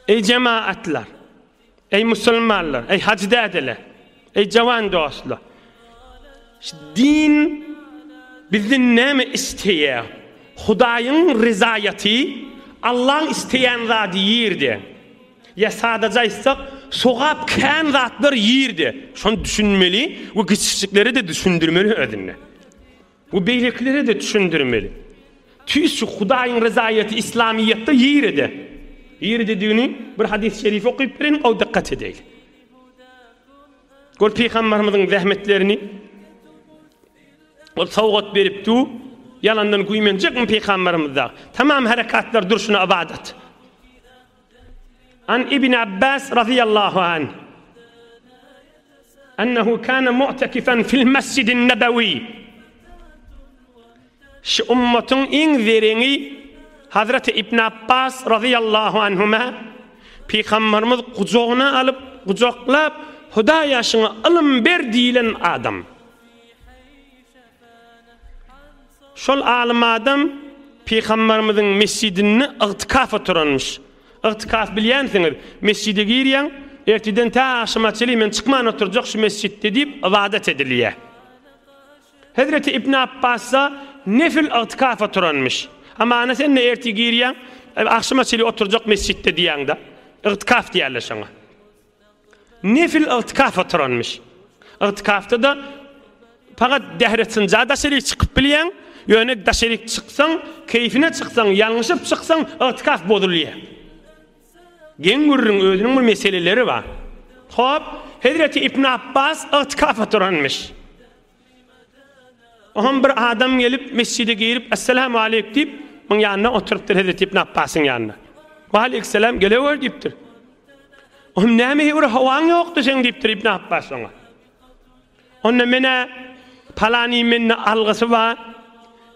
Eý jemaatlar! Eý musulmanlar! Eý hajy dädeler! Eý jawan dostlar! Şu din bizden näme isleýär? Hudaýyň ryzaýaty, Allaň isleýän zady ýerde. Ýa sadaja aýtsak, sogap kän zatlar ýerde. Şony düşünmeli we kiçijikleri-de düşündirmeli özüne. We beýlekilere-de düşündirmeli. Tüýs şu Hudaýyň ryzaýaty Islamyýetde ýeride. Ýeridedigini bir hadys şerif okyp bereýin, ow dykgat edeýli. Gör Pygambarymyzyň zähmetlerini Ol sowgat beripdi, ýalandan güýmenjekmi Pygambarymyzda? Tamam herekatlar durşuna ybadat. An Ibn Abbas razyýallahu anh, Ennehu kana mu'tekifan fil Mesjidin Nebewi. Şu ummatyň iň zereňi Hazreti Ibn Abbas razyýallahu anhuma Pygamberimiz gujagyna alyp, gujaklap, Hudaýa şuňa ylym ber diýlen adam. Şol alym adam Pygamberimiziň mesjidinde ygtykaf oturanmyş. Ygtykaf bilýänsiňiz, mesjide girýäň, ertirden tä agşama çenli men çykman oturjak şu mesjitde diýip ybadat edilýär. Hezreti Ibn Abbasda nefil ygtykaf oturanmyş. A mana sen-de ertir girýäň, agşama çenli oturjak mesjitde diýýäň-de. Ygtykaf diýerler şoňa. Nefil ygtykaf oturanmyş. Ygtykafda-da pagat Dehresynja daşaryk çykyp bilýäň, ýöne daşaryk çyksaň, keýfine çyksaň, ýalňyşyp çyksaň, ygtykaf bozulýar. Geň gürrüň, özüniň bir meseleleri bar. Hop, hezreti Ibn Apbas ygtykaf oturanmyş. Oňam bir adam gelip, mesjide girip, Esselamu aleýk diýip, muň ýanynda oturypdyr Hezreti Ibn Apbasyň ýanynda. We aleýkselam, gelewer diýipdir. Oňam näme heýwir howaň ýokdy seň diýipdir Ibn Apbas oňa. Onda men-ä palany mende algysy bar,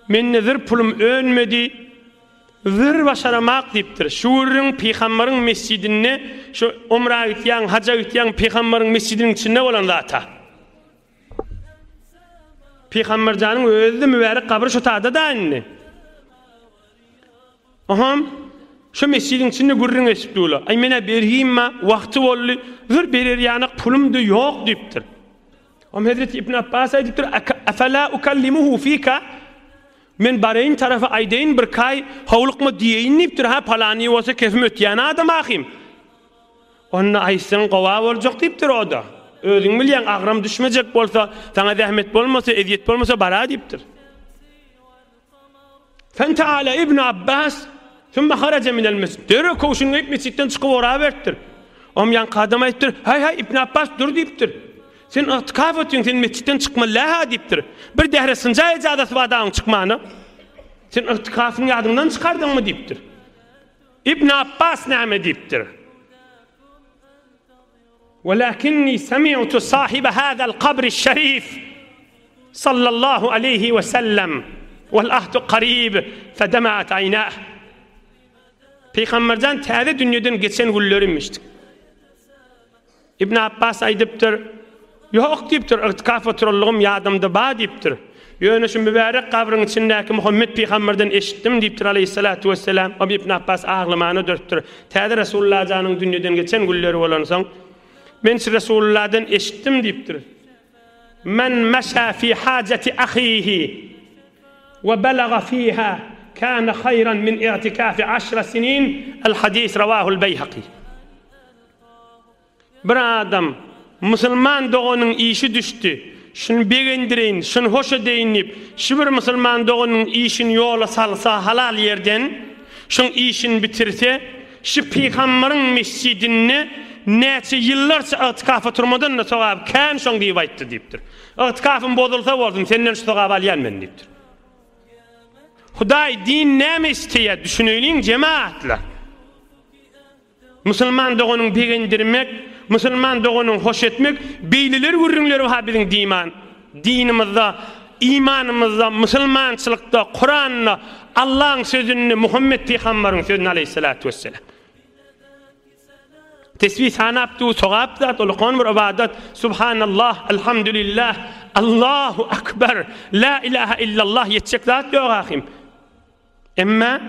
mende zir pulum önmedi, zir başaramak diýipdir. Şu gürrüň Pygambaryň mesjidinde, şu umra gitýäň, haja gitýäň, Pygambaryň mesjidiniň içinde bolan zat-a. Pygamberjanyň özi-de mübärek gabry şu tagda-da indi. Oham, şu mesjidiň içinde gürrüň eşip durlar. Aý, men-ä bergim-ä, wagty boldy, zor berer ýanak pulum-da ýok diýipdir. Oham hezreti Ibn Abbas aýdypdyr, Efela ukallimuhu fika? Men bareýin tarapa aýdaýyn, birkaý howlukma diýeýin diýipdir. Ha, palany bolsa kesme ötýän adam ahym. Onda aýtsaň gowa boljak diýipdir o-da. Özüň bilýäň, agram düşmejek bolsa, saňa zähmet bolmasa, ezýet bolmasa bara diýipdir. Fenta'ala Ibnu Abbas Sümme haraja minel mesjid. Derrew köwşüni geýip mesjitden çykyp oraberipdir. Om ýanky adam aýdypdyr, Haý haý Ibn Abbas dur diýipdir. Sen ygtykaf etýäň, sen mesjitden çykma läha diýipdir. Bir dähre synja ejazasy bar dagyň çykmana. Sen ygtykafyň ýadyňdan çykardyňmy diýipdir. Ibn Apbas näme diýipdir? Welakinni semi'tu sahibe hazal kabri şerif sallallahu aleýhi we sellem wal ahdu karib fedema'at aýnah. Pygamberden täze dünýeden geçen günlerim eşitdik. Ibn Abbas aýdypdyr, Ýok diýipdir, ygtykaf oturandygym ýadymda ba diýipdir. Ýöne şu mübärek gabryň içindäki Muhammet pygamberden eşitdim diýipdir aleýhissalatu wesselam. Obe Ibn Abbas aglaman ödüripdir. Täze Resulylla janyň dünýeden geçen günleri bolansoň, Men şu Resulylladan eşitdim diýipdir, Men meşa fi hajati ahihi we belaga fiha kana haýran min igtikafi aşra sinin, al-hadis rawahul-Beýhaki. Bir adam, musulman doganyň işi düşdi, şuny begendireýin, şuny hoş edeýin diýip, şu bir musulman doganyň işini ýola salsa, halal ýerden şuň işini bitirse, şu Pygambaryň mesjidinde näçe ýyllarça ygtykafa turmadan-da sogaby kän şoň diýip aýtdy diýipdir. Ygtykafym bozulsa bolsun, senden şu sogaby alýan men diýipdir. Hudaý din näme isleýär, düşüneýliň jemagatlar. Musulman doganyň begendirmek, musulman doganyň hoş etmek beýleler gürrüňleri ha biziň diman, dinimizde, imanymyzda, musulmançylykda, Kuranda, Allaň sözünde, Muhammet pyhambaryň sözünde aleýhissalatu wesselam. Tesbi sanap dur sogap zat ol ykon bir ybadat, subhanallah, alhamdulillah, Allahu akbar, la ilaha illallah ýetjek zat ýok ahim. Emma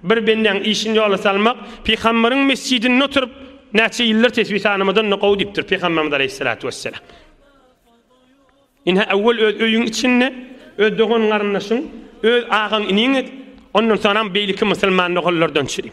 bir bendäň işini ýola salmak Pygamberiň mesjidinde oturyp näçe ýyldyr tesbi sanamadan-da gowy diýipdir Pygamberimiz aleýhissalatu wesselam. Ine awwal öz öýüň içinde öz dogan-garyndaşyň, öz agaň-iniň et, ondan soňam beýleki musulman doganlardan çydyp.